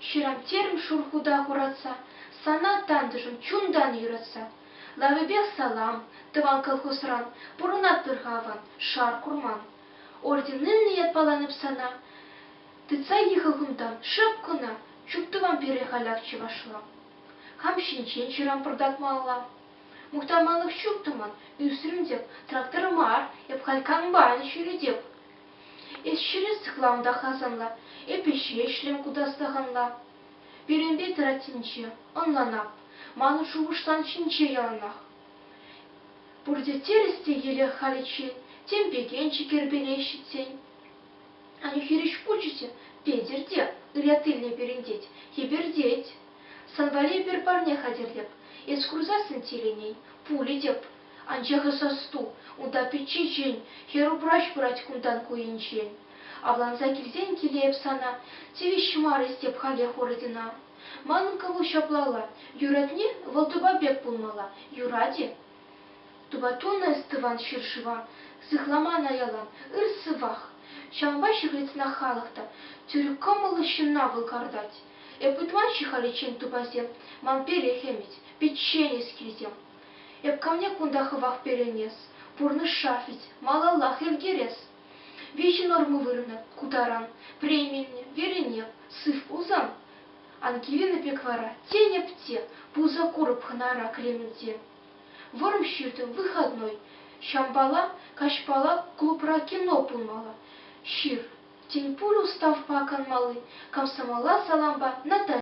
Ҫырав-терӗм шур хута хуратса, Сана, тантӑшӑм, чунтан юратса. Лавӗпех салам, тӑван колхозран, Пурӑнатпӑр-ха аван, шар курман. Орденлӗ ятпаланӑп сана, Тытса йӑхӑл кунтан, шӑп кӑна, Чуптӑвам пире халях чӑвашла. Хам ҫинчен ҫырам пӑртакмалла. Мухтаманлӑх ҫук-тӑмӑн, ӳсрӗм-тӗк, трактор мар, эп халь комбайн ҫӳретӗп. Эс ҫӗре сыхлам та хасанла, эпӗ ҫеҫлем ку дастаханла. Пирӗнпе тӑраттинче, ӑнланап, манӑн шухӑшлан ҫинче яланах. Пурте терӗс те елех халиччен, тем пекенчи кӗрпере ҫитсен. Аню хирӗҫ кучӗ те, Петӗр те, ырятилле перӗнтет, хӗпӗртет. Сан валли эпир парне хатӗрлӗп. Эс курсассӑн тилӗнен, пулӗ тӗп. Анчах эс ӑсту, унта пичче ҫын, хӗр-упраҫ пырать кунтан ку енчен. Авланса килсен киле эп сана тивӗҫ мар эс теп халех ордена. Манӑн кӑву ҫаплалла, юратни вӑл тупа пек пулмалла, юрать-и? Тупа тунӑ эс тӑван ҫӗр-шыва, сыхламан аялан, ыр сывах. Ҫавӑнпа ҫыхӑнсанах халӑх та тӳрӗ кӑмӑллӑ ҫынна вӑл картать. Эп ытла-ши халиччен тупасем? Ман пелех ӗмӗт, пӗчченӗс килтем. Эп камне кунта хӑвах пеленес? Пурнӑҫра вӗт малаллах иртерес. Виҫӗ норма вырӑнӑп ку таран, Премине, верене, сыв пулсан. Ан киленӗ пек вара, тенӗп те, Пулса курӑп хӑнара кремльте. Вӑрӑм ҫыртӑм выходной, Ҫампала, каҫпала Клубра кино пулмалла. Ҫыр, тӗл пулу ставпа канмалли комсомола салампа Наташа